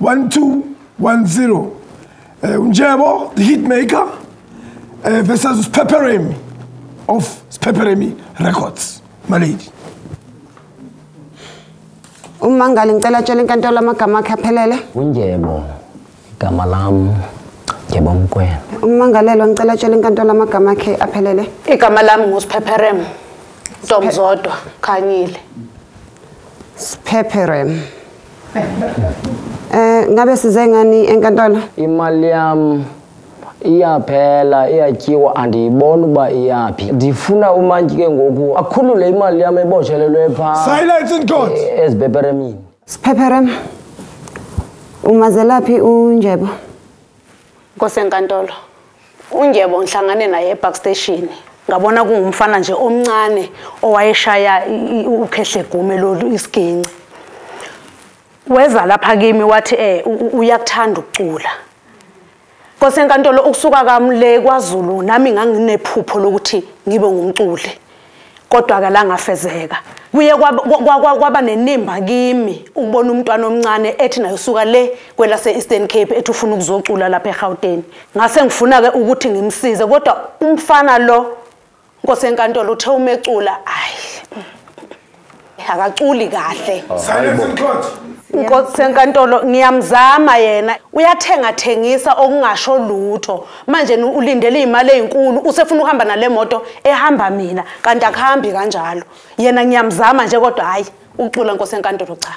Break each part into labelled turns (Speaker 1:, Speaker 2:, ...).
Speaker 1: one two one zero um eh, unjebo the hit maker um eh, versus uspheperemi of spheperemi records malady
Speaker 2: umangali ngicela tshela inkantolo amagama akhe aphelele unjebo
Speaker 3: igama lam njebo mkwena ummangalelwa ngicela
Speaker 2: tshela inkantolo amagama akhe aphelele igama lam
Speaker 4: nguspheperem ntomzodwa khanyile spheperem
Speaker 2: Eh ngabe size ngani enkantolo? Imali yami
Speaker 3: iyaphela iyatyiwa andiyibona uba iyaphi ndifuna umantyi ke ngoku akhulule imali yam ebotshelelwe pha silence in court
Speaker 1: e, ezipeperemini
Speaker 3: sipheperem
Speaker 2: umazelaphi unjebo Nkosenkantolo,
Speaker 4: uNjebo ngihlangane naye epark station. Ngabona kungumfana nje omncane owayeshaya ukhehle gume lolu isiginci. Weza lapha kimi wathi eh uyakuthanda ukucula. Nkosenkantolo ukusuka kami le kwaZulu nami nganginephupho lokuthi ngibe ngumculi. kodwa ke langafezeka kuye kwaba nenimba kimi ukubona umntwana omncane ethi nayo suka le kwelase Eastern Cape ethi ufuna ukuzocula lapha eGauteng ngase ngifuna ke ukuthi ngimsize kodwa umfana lo Nkosi enkantolo uthe umecula ayi akaculi kahle oh, silence
Speaker 1: mkhonzi inkosi enkantolo
Speaker 4: ngiyamzama yena uyathenga thengisa okungasho lutho manje ulindele izimali ezinkulu usefuna ukuhamba nale moto ehamba mina kanti akuhambi kanjalo yena ngiyamzama nje kodwa hayi ucula inkosi enkantolo cha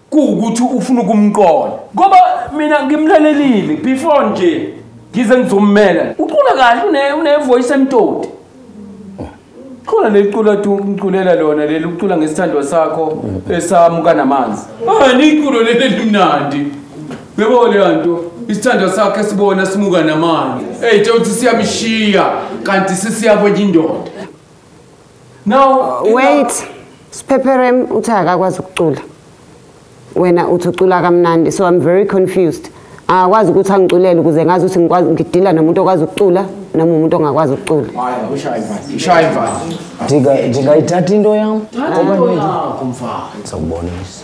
Speaker 5: kuwukuthi ufuna ukumqonda ngoba mina ngimlalelile before nje ngize ngizommela ucula kahle unevoice emtoti khona leculo atuculela lona leli ucula ngesithandwa sakho esamuka namanzi ani iculo leli elimnandi yebo leyo nto isithandwa sakho esibona simuka namanzi eyi tshewuthi siyamshiya kanti sisiya kwenye indoda now uh, wait
Speaker 2: sphepherem uthi akakwazi ukucula wena uthi ucula kamnandi so i'm very confused akwazi ukuthi angiculele ukuze ngazi ukuthi ngikwazi ngidila nomuntu okwazi ukucula noma umuntu ongakwazi ukucula
Speaker 5: ndingayithatha into
Speaker 3: yam
Speaker 5: ngizakubonisa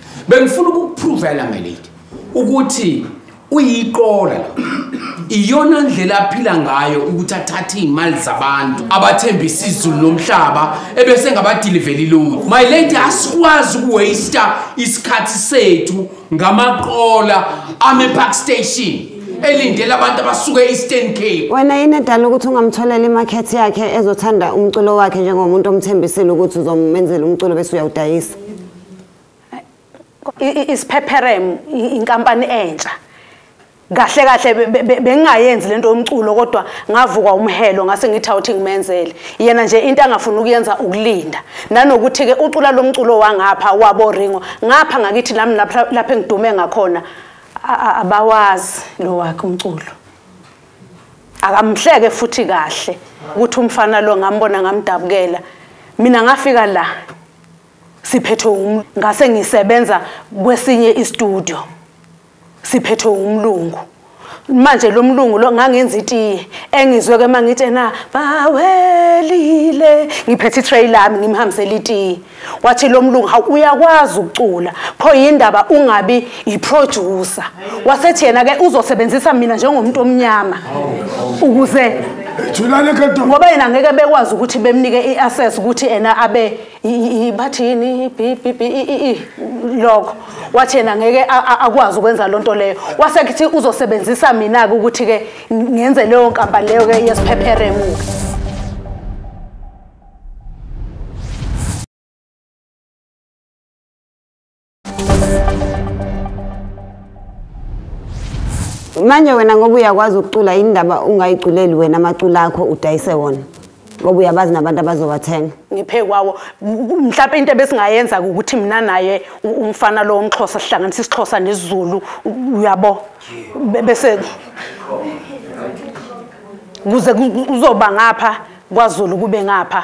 Speaker 5: bengifuna ukukuphrovela melady ukuthi uyiqola iyona ndlela aphila ngayo ukuthi athathe iy'mali zabantu abathembisa izulu nomhlaba ebese ngabadiliveli lutho my lady asikwazi ukuwasta isikhathi sethu ngamaqola amepark station elindele abantu abasuke e-eastern cape wena yini edala ukuthi
Speaker 2: ungamtholela imakhethi yakhe ezothanda umculo wakhe njengomuntu omthembisile ukuthi uzomenzela umculo bese uyawudayisa
Speaker 4: isiphepherem inkampani entsha kahle kahle bengingayenzi lento yomculo kodwa ngavuka umhelo ngase ngithi awuthi ngimenzele yena nje into angafuna ukuyenza ukulinda nanokuthi ke ucula lomculo wangapha wabo ringo ngapha ngakithi lami lapha lapha engidume ngakhona abawazi lo wakhe umculo akamhleke futhi kahle ukuthi umfana lo ngambona ngamdabukela mina ngafika la siphethwe um ngase ngisebenza kwesinye istudio siphethwe umlungu manje lo mlungu lo ngangenza itiye engizwe ke mangithi na bawelile ngiphethe itray lami ngimhambisela itiye wathi lo mlungu ha uyakwazi ukucula pho yindaba ungabi yiproducer wasethi yena ke uzosebenzisa mina njengomuntu omnyama ukuze ngoba yena ngeke bekwazi ukuthi bemnike i-access ukuthi ena abe bathi yini lokho wathi yena ngeke akwazi ukwenza loo nto leyo wasekuthi uzosebenzisa mina-ke ukuthi-ke ngenze leyo nkampani leyo-ke yesiphepheremuke
Speaker 2: manje wena ngoba uyakwazi ukucula yini ndaba ungayiculeli wena amacula akho udayise wona ngoba uyabazi nabantu abazobathenga ngiphe kwawo
Speaker 4: mhlawumbe into ebesingayenza ukuthi mina naye umfana lo womxhosa sihlanganisa isixhosa nesizulu uyabo bese kuze kuzoba ngapha kwazulu kube ngapha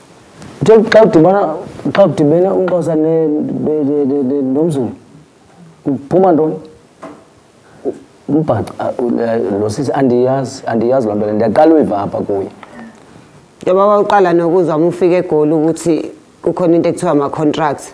Speaker 3: Nje xa udibana xa udibene umxhosa ne nomzulu uphuma ntoni? Umbhaca lo sisi andiyazi andiyazi loo nto le ndiyaqala uyiva apha kuye. Yebo
Speaker 2: waqala nokuzwa uma ufika eGoli ukuthi kukhona into ekuthiwa ama-contracts.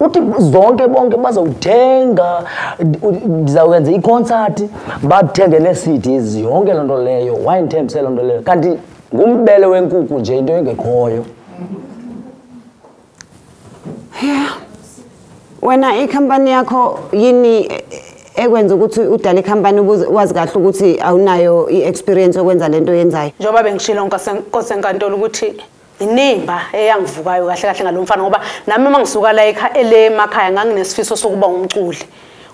Speaker 2: uthi
Speaker 3: zonke bonke bazowuthenga ndizawukwenza i-concert bathenge nee-cds yonke loo nto leyo why ndithembise loo nto leyo kanti ngumbele wenkuku nje into engekhoyo
Speaker 2: ya wena ikhampani yakho yini ekwenza ukuthi udale ikhampani wazi kahle ukuthi awunayo i-experience yokwenza le nto yenzayo njengoba bengishilo
Speaker 4: nkosenkantolo ukuthi inimba eyangivukayo kahle kahle ngalomfana ngoba nami uma ngisuka la ekhaya elemakhaya nganginesifiso sokuba umculi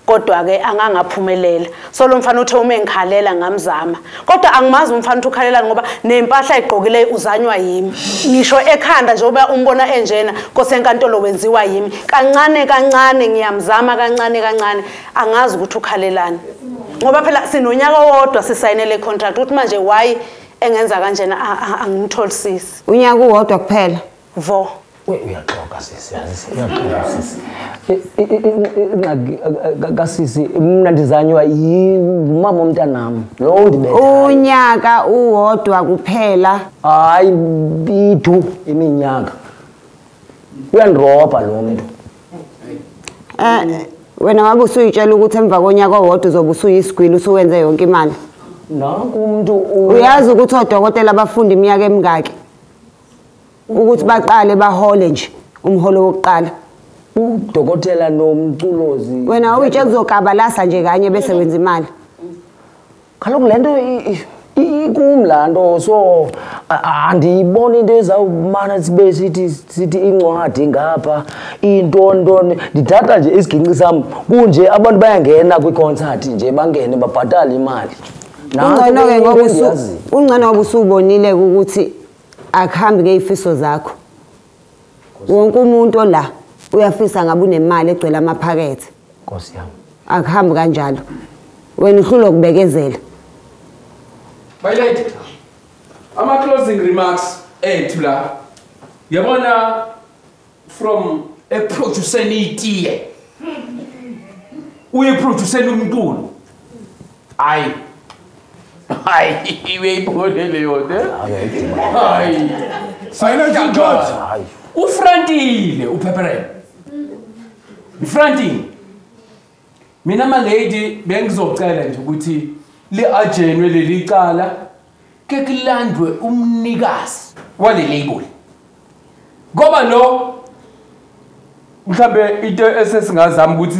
Speaker 4: kodwa ke angangaphumelela so lo mfana uthe uma engikhalela ngamzama kodwa angimazi umfana uthi ukhalela ngoba nempahla ayigqokile uzanywa yimi ngisho ekhanda nje uba umbona enjena kose enkantolo wenziwa yimi kancane kancane ngiyamzama kancane kancane angazi ukuthi ukhalelani ngoba phela sinonyaka owodwa sisayinele contract uthi manje why engenza kanjena angimtholi sisi unyaka uwodwa
Speaker 2: kuphela vo
Speaker 4: uyaxoka
Speaker 3: sisi yazi uyaxoka sisi ingxaki kasisi mnandizanywa yimama omntanami lowo ndibetha unyaka
Speaker 2: uwodwa kuphela hayi
Speaker 3: bidu iminyaka uyandirobha lo mntu Eh
Speaker 2: wena wabe usuyitshela ukuthi emva konyaka owodwa uzobe usuyisigwili usuwenze yonke imali. Nanku umuntu
Speaker 3: uyazi ukuthi
Speaker 2: odokotela bafunda iminyaka emingaki ukuthi baqale bahole nje umholo wokuqala. Udokotela
Speaker 3: nomculozi. Wena uyitshela
Speaker 2: uzokabalasa nje kanye bese wenza imali.
Speaker 3: kaloku le nto ikum laa nto so andiyiboni into ezawumana sibe sithi sithi incwadi ngapha iintontoni ndithatha nje isigingci sam kunje abantu bayangena kwiikonsathi nje bangene babhatale imali ungcono-ke
Speaker 2: ngoba ungcono ngoba usubonile ukuthi akuhambi ngey'fiso zakho wonke umuntu ola uyafisa ngabe unemali egcwele amaphakethe nkosi yami
Speaker 3: akuhambi kanjalo
Speaker 2: wena uhlulwa ukubekezela
Speaker 5: my lady ama closing remarks ethu la yabona from eproduceni itiye uyiproduceni umculo Ay. Ay, ibe ibone leyo ne. Ay. Sayina
Speaker 1: Judge. Ufrantile
Speaker 5: uphepherele. Ufrantile. Mina ma lady bengizocela nje ukuthi li ajenwe leli cala ke kulandwe umnikazi wale label ngoba lo mhlambe into esesingazama ukuthi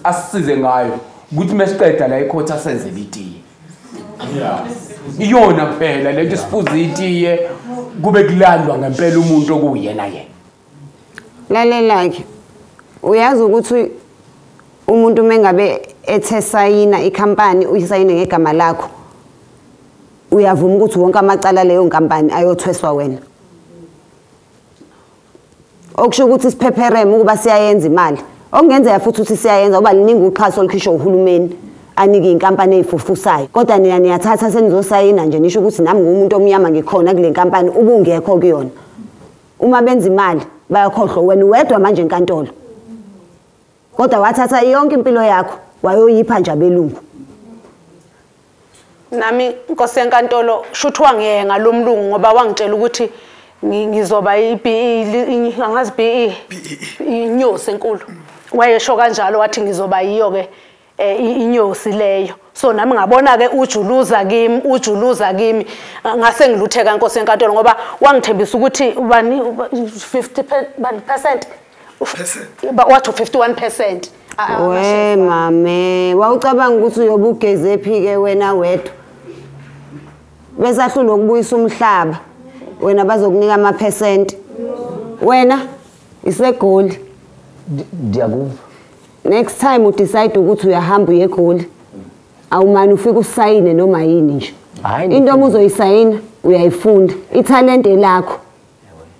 Speaker 5: asisize ngayo ukuthi mesiqeda la ikhotha asenze litiye iyona kuphela lento sifuza itiye kube kulandwa ngempela umuntu okuyena yena
Speaker 2: lalelake uyazi ukuthi umuntu mengabe ethe sayina ikhampani uyisayine ngegama lakho uyavuma ukuthi wonke amacala leyo nkampani ayothweswa wena okusho ukuthi isiphephereme ukuba siyayenza imali okungenzeka futhi ukuthi siyayenza uba liningi uxhaso olukhishwa uhulumeni anike inkampani eyifufusayo kodwa nina niyathatha senizosayina nje nisho ukuthi nami ngumuntu omnyama ngikhona kule nkampani ubungekho kuyona uma benza imali bayakhohlwa wena uwedwa manje enkantolo kodwa wathatha yonke impilo yakho wayoyipha nje abelungu
Speaker 4: nami inkosi yenkantolo shuthi wangiyeke ngalo mlungu ngoba wangitshela ukuthi ngizoba i-BE angazi BE inyosi enkulu wayesho kanjalo wathi ngizoba yiyo-ke eh inyosi leyo so nami ngabona ke ujuluza kimi ujuluza kimi ngase ngilutheka inkosi enkantolo ngoba wangithembisa ukuthi ubani 50 bani percent ba wathi 51% ah, ah, we
Speaker 2: mame wawucabanga ukuthi uyobugeze phi ke wena wedwa bese ahlulwa ukubuyisa umhlaba wena bazokunika ama percent wena isegoli
Speaker 3: ndiyakuva next
Speaker 2: time udecide ukuthi uyahamba uye egoli awumani ufike usayine noma yini nje into uma uzoyisayina uyayifunda ithalente lakho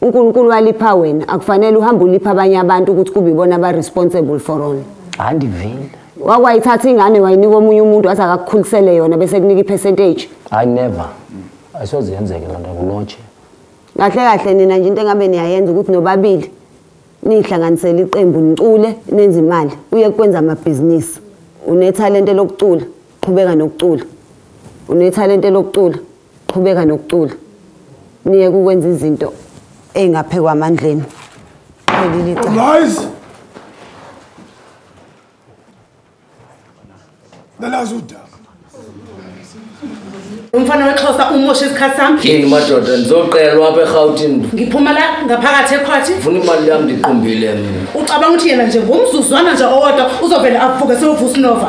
Speaker 2: unkulunkulu walipha wena akufanele uhambe ulipha abanye abantu ukuthi kube ibona aba-responsible for all hayi ndivile
Speaker 3: wakwayithatha
Speaker 2: ingane wayinika omunye umuntu wathi akakukhulisele yona bese kunika i-percentage hayi never
Speaker 3: ayisoze yenzeke loo nto kulotshe kahle kahle
Speaker 2: nina nje into engabe niyayenza ukuthi nobabili niyihlanganisela iqembu nicule nenze imali uye kwenza amabhizinisi unethalente lokucula qhubeka nokucula unethalente lokucula qhubeka nokucula niye kukwenza izinto ey'ngaphekwa amandleni qhelile
Speaker 1: icala nalazi udaba
Speaker 4: umfana wexhosa umoshe isikhathi sami yini madoda
Speaker 6: ndizoqelwa apha erhawutini ngiphuma la
Speaker 4: ngaphakathi ekhwathi funa imali yam
Speaker 6: ndiqumbile mina
Speaker 4: ucabanga ukuthi yena nje
Speaker 6: ngomzuzwana
Speaker 4: nje owodwa uzovele avuke sewovusa unova